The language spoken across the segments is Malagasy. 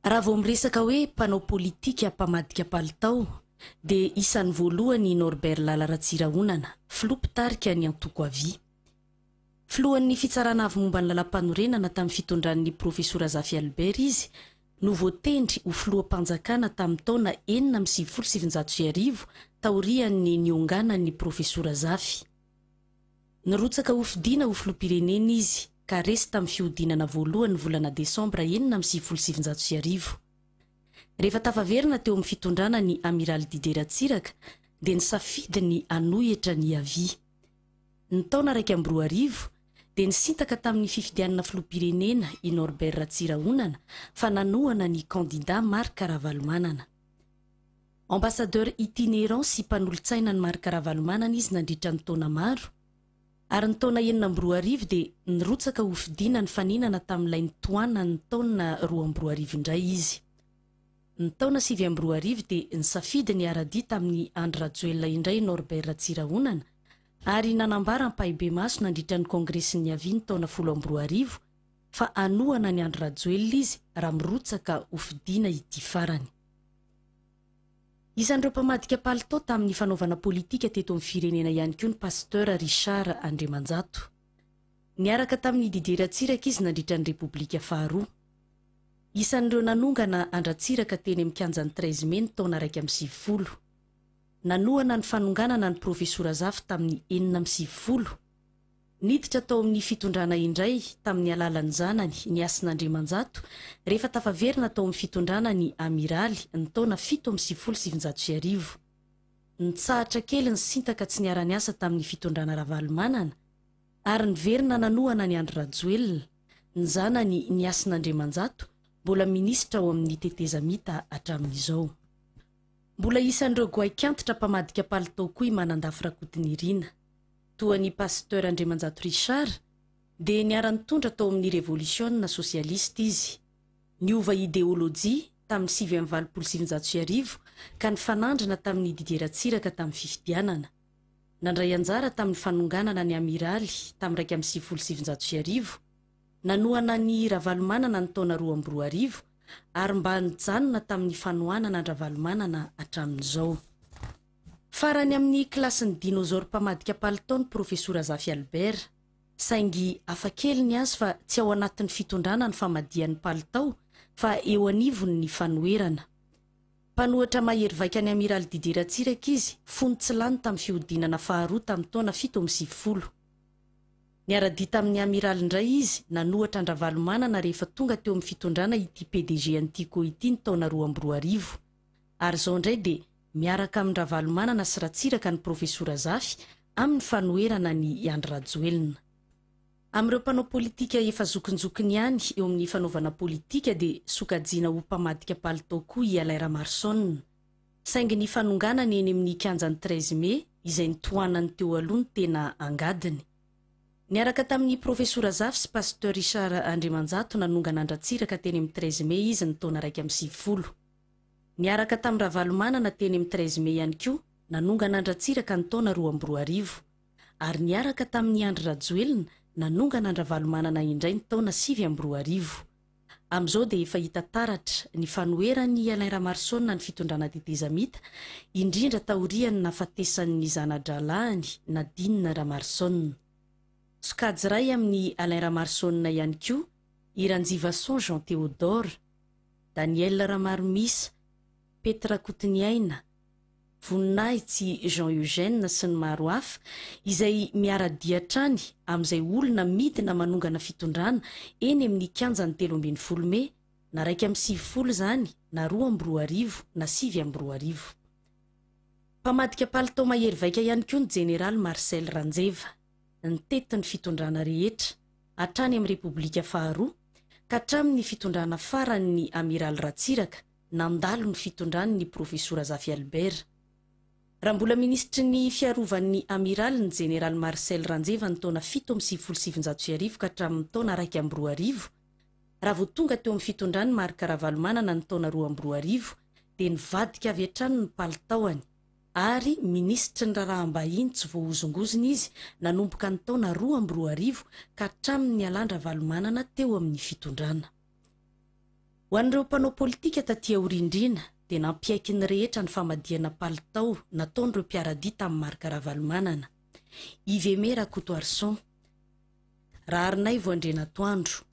Raha vao miresaka hoe mpanao politika mpamadika palitao dia isan'ny voalohany i Norbert Lala Ratsirahonana, filoha mpitarika ny antoko Avi. Filohan'ny Fitsarana Avo momba ny Lalampanorenana tamin'ny fitondran'ny Profesora Zafy Albert izy no voatendry ho filoham-panjakana tamin'ny taona enina amby sivifolo sy sivinjato sy arivo taorian'ny nionganan'ny Profesora Zafy. Nirotsaka hofidiana ho filoham-pirenena izy ka resy tamin'ny fihodinana voalohany ny volana desambra enina amby sivifolo sy sivinjato sy arivo. Rehefa tafaverina teo amin'ny fitondrana ny Amiraly Didier Ratsiraka dia nisafidy ny hanohy hetrany hiavia. Ny taona iraika amby roa arivo dia nisintaka tamin'ny fifidianana filoham-pirenena i Norbert Ratsirahonana fa nanohana ny kandida Marc Ravalomanana. Ambassadeur itinérant sy mpanolotsaina an'i Marc Ravalomanana izy nandritra ny taona maro, ary ny taona enina amby roa arivo dia nirotsaka ho fidiana nifaninana tamin'ilay nitohanan'ny taona roa amby roa arivo indray izy. Ny taona sivy amby roa arivo dia nisafidy ny hiara-dia tamin'i Andry Rajoelina indray i Norbert Ratsirahonana, ary nanambara ampahibemaso nandritra ny Kongresy niaviany taona folo amby roa arivo fa hanohana an'i Andry Rajoelina izy raha mirotsaka ho fidiana ity farany. Isan'ireo mpamadika palitao tamin'ny fanaovana politika teto amin'ny firenena ihany koa ny Pasteur Richard Andriamanjato. Niaraka tamin'i Didier Ratsiraka izy nandritra ny Repoblika faharoa. Isan'ireo nanongana an-dRatsiraka teny amin'ny kianjan'ny Treize Mai ny taona iraika amby sivifolo. Nanohana ny fanonganana an'i Profesora Zafy tamin'ny enina amby sivifolo. Niditra tao amin'ny fitondrana indray tamin'ny alalan'ny zanany ny hasin'Andriamanjato rehefa tafaverina tao amin'ny fitondrana ny Amiraly ny taona fito amby sivifolo sy sivinjato sy arivo. Nitsahatra kely ny Sinta ka tsy niara-niasa tamin'ny fitondrana Ravalomanana ary niverina nanohana an'i Andry Rajoelina, ny zanany ny hasin'Andriamanjato mbola minisitra ao amin'ny tetezamita hatramin'izao. Mbola isan'ireo goaik'antitra mpamadika palitao koa i Manandafy Rakotonirina. toa an'i Pasteur Andriamanjato Richard dia niara-nitondra tao amin'ny revolisiona sosialista izy. Niova ideolojia tamin'ny sivy amby valopolo sy sivinjato sy arivo ka nifanandrina tamin'i Didier Ratsiraka tamin'ny fifidianana. Nandray anjara tamin'ny fanonganana ny Amiraly tamin'ny iraika amby sivifolo sy sivinjato sy arivo. Nanohana an'i Ravalomanana ny taona roa amby roa arivo ary mba nijanona tamin'ny fanohanana an-dRavalomanana hatramin'izao. Farany amin'ny kilasin'ny dinôzôro mpamadika palitao ny Profesora Zafy Albert. Saingy hafa kely ny azy fa tsy ao anatin'ny fitondrana ny famadihany palitao fa eo anivony ny fanoherana. Mpanohatra mahery vaika ny Amiraly Didier Ratsiraka izy fony tsy lany tamin'ny fihodinana faharoa tamin'ny taona fito amby sivifolo. Niara-dia tamin'ny Amiraly indray izy nanohatra an-dRavalomanana rehefa tonga teo amin'ny fitondrana ity PDG an'Tico ity ny taona roa amby roa arivo. Ary izao indray dia miaraka amin-dRavalomanana sy Ratsiraka ny Profesora Zafy amin'ny fanoherana an' i Andry Rajoelina. Amin'ireo mpanao politika efa zokinjokiny ihany eo amin'ny fanaovana politika dia sokajiana ho mpamadika palitao koa i Alain Ramaroson. Saingy ny fanonganany eny amin'ny kianjan'ny treize mai izay nitohanany teo aloha no tena angadiny. Niaraka tamin'i Profesora Zafy sy Pasteur Richard Andriamanjato nanongana an-dRatsiraka teny amin'ny treize mai izy ny taona iraika amby sivifolo. Niaraka tamin'i Ravalomanana teny amin'ny treize mai ihany koa nanongana an-dRatsiraka ny taona roa amby roa arivo. Ary niaraka tamin'i Andry Rajoelina nanongana an-dRavalomanana indray ny taona sivy amby roa arivo. Amin'izao dia efa hita taratra ny fanoheran'i Alain Ramarosaona ny fitondrana tetezamita, indrindra taorian'ny nahafatesan'ny zana-drahalahiny Nadine Ramarosaona. Sokajy iray amin'i Alain Ramarosaona ihany koa i Ranjivason Jean Théodore. Daniel Ramaromisa, Pety Rakotoniaina, Voninahitsy Jean Eugène sy ny maro hafa izay miara-dia hatrany amin'izay olona midina manongana fitondrana eny amin'ny kianjan'ny telo ambin'ny folo mey na iraika amby sivifolo izany na roa amby roa arivo na sivy amby roa arivo. Mpamadika palitao mahery vaika ihany koa ny Jeneraly Marcel Ranjeva. ny tetin'ny fitondrana rehetra, hatrany amin'ny Repoblika faharoa ka hatramin'ny fitondrana faran'ny Amiraly Ratsiraka nandalo ny fitondran'ny Profesora Zafy Albert. Raha mbola minisitry ny fiarovan'ny Amiraly ny Jeneraly Marcel Ranjeva ny taona fito amby sivifolo sy sivinjato sy arivo ka hatramin'ny taona iraika amby roa arivo, raha vao tonga teo amin'ny fitondran'i Marc Ravalomanana ny taona roa amby roa arivo dia nivadika avy hatrany ny palitaony. ary minisitry ny raharaham-bahiny tsy voahozongozona izy nanomboka ny taona roa amby roa arivo ka hatramin'ny nialan-dRavalomanana teo amin'ny fitondrana. Ho an'ireo mpanao politika taty aorindriana dia nampiaiky ny rehetra ny famadihana palitao nataon'ireo mpiara-dia tamin'i Marc Ravalomanana. Yveme Rakotoarison, Raharinaivo Andrianatoandro,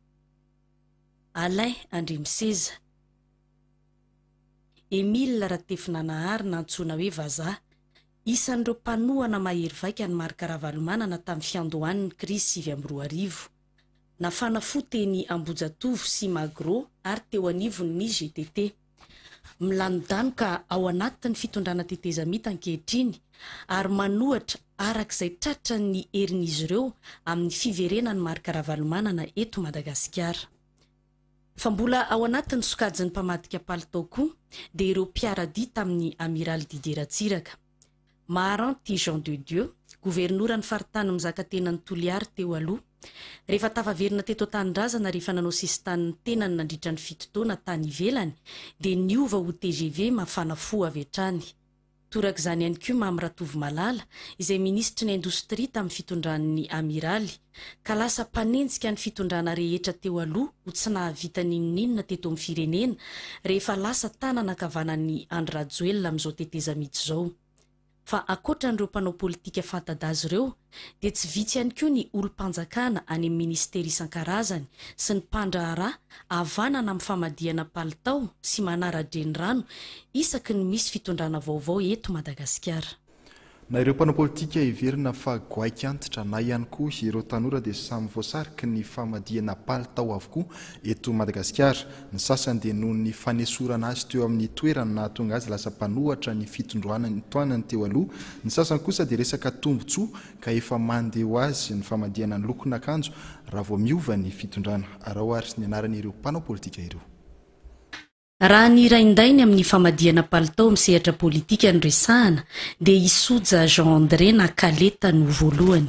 Alain Andriamiseza, Emile Ratefinanahary na antsoina hoe Vazaha. Isan'ireo mpanohana mahery vaika an'i Marc Ravalomanana tamin'ny fiandohan'ny krizy sivy amby roa arivo. Nafana fo teny Ambohijatovo sy Magro ary teo anivon'ny GTT. Milanodanoka ao anatin'ny fitondrana tetezamita ankehitriny ary manohatra araka izay tratran'ny herin'izy ireo amin'ny fiverenan'i Marc Ravalomanana eto Madagasikara. Fa mbola ao anatin'ny sokajin'ny mpamadika palitao koa dia ireo mpiara-dia tamin'ny Amiraly Didier Ratsiraka. Maharanty Jean de Dieu, governoran'ny faritany mizakatenan'i Toliary teo aloha, rehefa tafaverina teto an-tanindrazana rehefa nanao sisintany ny tenany nandritra ny fito taona tany ivelany, dia niova ho tgv mafana fo avy hatrany. Torak'izany ihany koa Mamy Ratovomalala, izay minisitry ny indostria tamin'ny fitondran'ny Amiraly, ka lasa mpanenjika ny fitondrana rehetra teo aloha ho tsy nahavita n'inon'inona teto amin'ny firenena, rehefa lasa tanana ankavanan'i Andry Rajoelina amin'izao tetezamita izao. Fa ankoatra an'ireo mpanao politika fanta-daza ireo, dia tsy vitsy ihany koa ny olom-panjakana any amin'ny minisitera isan-karazany sy ny mpandraharaha havanana amin'ny famadihana palitao sy manara-drenirano isaky ny misy fitondrana vaovao eto Madagasikara. Na ireo mpanao politika heverina fa goaika antitra na ihany koa ireo tanora dia samy voasariky ny famadihana palitao avokoa eto Madagasikara. Ny sasany dia noho ny fanesorana azy teo amin'ny toerany nahatonga azy lasa mpanohatra ny fitondroana ny toanany teo aloha, ny sasany kosa dia resaka tombotsoa ka efa mande ho azy ny famadihana ny lokon'akanjo raha vao miova ny fitondrana. Araho ary ny anaran'ireo mpanao politika ireo. Raha ny rain-dainy amin'ny famadihana palitao amin'ny sehatra politika no resahana dia i Soja Jean André na Kaleta no voalohany.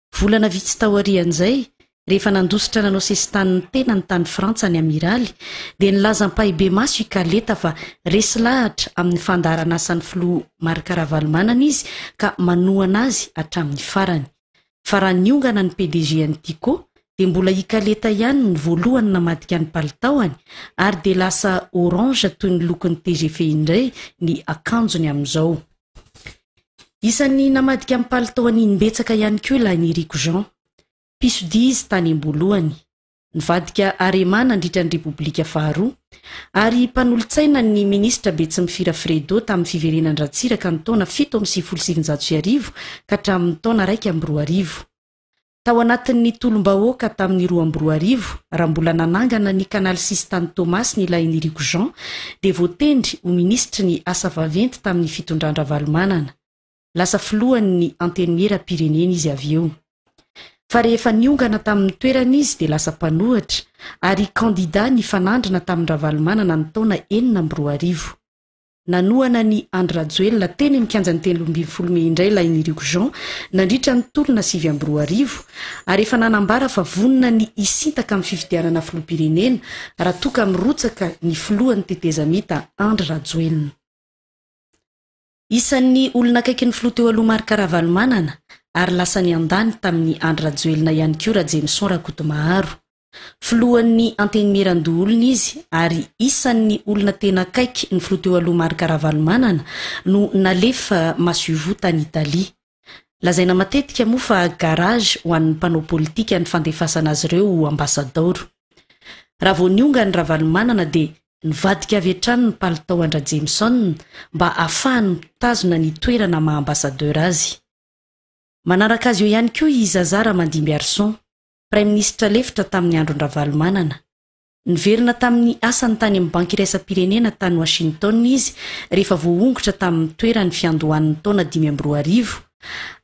Volana vitsy taorian'izay, rehefa nandositra nanao sesitanin'ny tenany tany Frantsa ny Amiraly, dia nilaza ampahibemaso i Kaleta fa resy lahatra amin'ny fandaharanasan'ny Filoha Marc Ravalomanana izy ka manohana azy hatramin'ny farany. Fa raha niongana ny PDG-n'ny Tiko, dia mbola i Kaleta ihany ny voalohany namadika ny palitaony ary dia lasa orange toy ny lokon'ny tgv indray ny akanjony amin'izao. Isan'ny namadika ny palitao an'Inimbetsaka ihany koa i Lahiniriko Jean, mpisodia izy tany am-boalohany, nivadika Arema nandritra ny Repoblika faharoa, ary mpanolotsaina ny minisitra Betsimifiora Fredo tamin'ny fiverenan-dRatsiraka ny taona fito amby sivifolo sy sivinjato sy arivo ka hatramin'ny taona iraika amby roa arivo. Tao anatin'ny tolom-bahoaka tamin'ny roa amby roa arivo, raha mbola nanangana ny Canal Sisintany Toamasina i Lahiniriko Jean, dia voatendry ho minisitry ny Asa vaventy tamin'ny fitondran-dRavalomanana. Lasa filohan'ny Antenimieram-pirenena izy avy eo. Fa rehefa niongana tamin'ny toerany izy dia lasa mpanohitra, ary kandida nifanandrina tamin-dRavalomanana ny taona enina amby roa arivo. Nanohana an'i Andry Rajoelina teny amin'ny kianjan'ny telo ambin'ny folo mey indray ilay Niriko Jean nandritra ny tolona sivy amby roa arivo ary efa nanambara fa vonona ny hisintaka amin'ny fifidianana filoham-pirenena raha toa ka mirotsaka ny filohan'ny tetezamita Andry Rajoelina. Isan'ny olona akaikin'ny filoha teo aloha Marc Ravalomanana ary lasa niandany tamin'i Andry Rajoelina ihany koa Rajemison Rakotomaharo. Filohan'ny Antenimierandoholona izy ary isan'ny olona tena akaiky ny filoha teo aloha Marc Ravalomanana no nalefa masoivoho tany Italie. Lazaina matetika moa fa garage ho an'ny mpanao politika ny fandefasana azy ireo ho ambasadaoro. Raha vao nionga an'i Ravalomanana dia nivadika avy hatrany ny palitao an-dRajemison mba hahafahany mitazona ny toerana maha ambasadaora azy. Manaraka azy eo ihany koa i Zazara Mandimbiarison. Praiminisitra lefitra tamin'ny andron-dRavalomanana. Niverina tamin'ny asany tany amin'ny Banky Iraisam-pirenena tany Washington izy rehefa voahongotra tamin'ny toerany fiandohan'ny taona dimy amby roa arivo,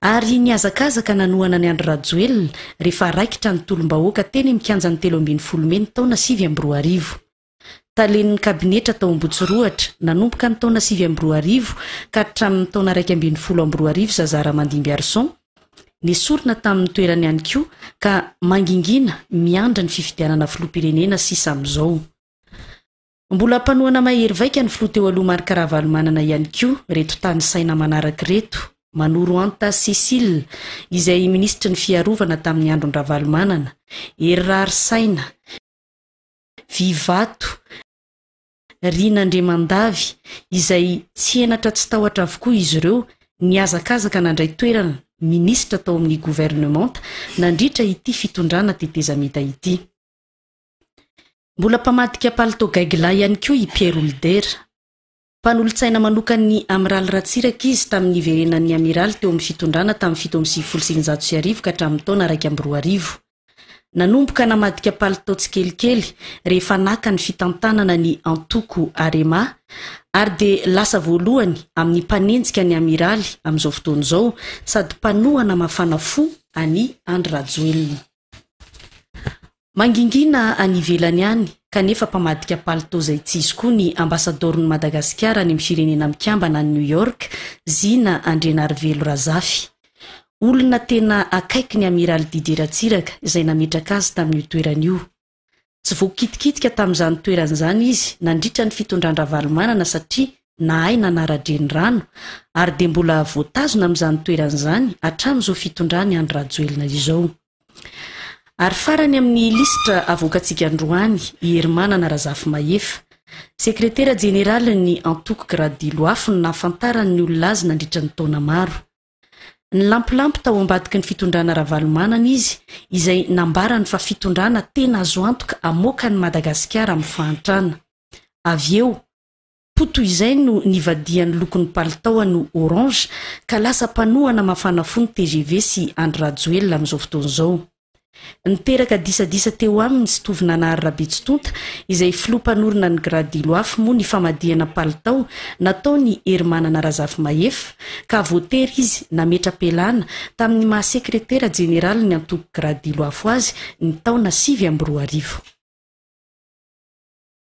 ary nihazakazaka nanohana an'i Andry Rajoelina rehefa raikitra ny tolom-bahoaka teny amin'ny kianjan'ny telo ambin'ny folo mey ny taona sivy amby roa arivo. Talen'ny kabinetra tao Ambohitsorohatra, nanomboka ny taona sivy amby roa arivo ka hatramin'ny taona iraika ambin'ny folo amby roa arivo Zazara Mandimbiarison. Nesorina tamin'ny toerany ihany koa ka mangingina miandry ny fifidianana filoham-pirenena sisa amin'izao. Mbola mpanohana mahery vaika ny filoha teo aloha Marc Ravalomanana ihany koa ireto tanisaina manaraka ireto, Manoroanta Cécile, izay minisitry ny Fiarovana tamin'ny andron-dRavalomanana, Hery Raharisaina, vy vato, riana andriamandavy izay tsy henatra tsy tahotra avokoa izy ireo nihazakazaka nandray toerana minisitra tao amin'ny governemanta nandritra ity fitondrana tetezamita ity. Mbola mpamadika palitao gaigilahy ihany koa i Pierre Houlder. Mpanolotsaina manokan'ny Amiraly Ratsiraka izy tamin'ny niverenan'ny Amiraly teo amin'ny fitondrana tamin'ny fito amby sivifolo sy sivinjato sy arivo ka hatramin'ny taona iraika amby roa arivo. Nanomboka namadika palitao tsikelikely rehefa naka ny fitantanana ny antoko Arema ary dia lasa voalohany amin'ny mpanenjika ny Amiraly amin'izao fotoana izao sady mpanohana mafana fo an'i Andry Rajoelina. Mangingina any ivelany any kanefa mpamadika palitao izay tsy izy koa ny Ambasadaoron'i Madagasikara any amin'ny Firenena Mikambana any New York, Zina Andrianarivelo Razafy. Olona tena akaiky ny Amiraly Didier Ratsiraka izay nametraka azy tamin'io toerana io. Tsy voakitikitika tamin'izany toerana izany izy nandritra ny fitondran-dRavalomanana satria nahay nanara-drenirano ary dia mbola voatazona amin'izany toerana izany hatramin'izao fitondran'i Andry Rajoelina izao. Ary farany amin'ny lisitra avoakantsika androany i Herimanana Razafimahefa, Sekretera Jeneralin'ny Antoko Gradilo Afo no nahafantarany ny olona azy nandritra ny taona maro. Nilampilapy tao ambadiky ny fitondrana Ravalomanana izy izay nambarany fa fitondrana tena azo antoka hamoaka an'i Madagasikara amin'ny fahantrana. Avy eo, Toa toy izay no nivadihan'ny lokon'ny palitaony ho orange ka lasa mpanohana mafana fo ny tgv sy Andry Rajoelina amin'izao fotoana izao. Niteraka disadisa teo aminy sy Tovinanahary Rabetsitonta izay filoha mpanorina ny Grad Iloafy moa ny famadihana palitao nataon'i Herimanana Razafimahefa ka voatery izy nametra-pialana tamin'ny maha sekretera jeneralin'ny antoko Grad Iloafo azy ny taona sivy amby roa arivo.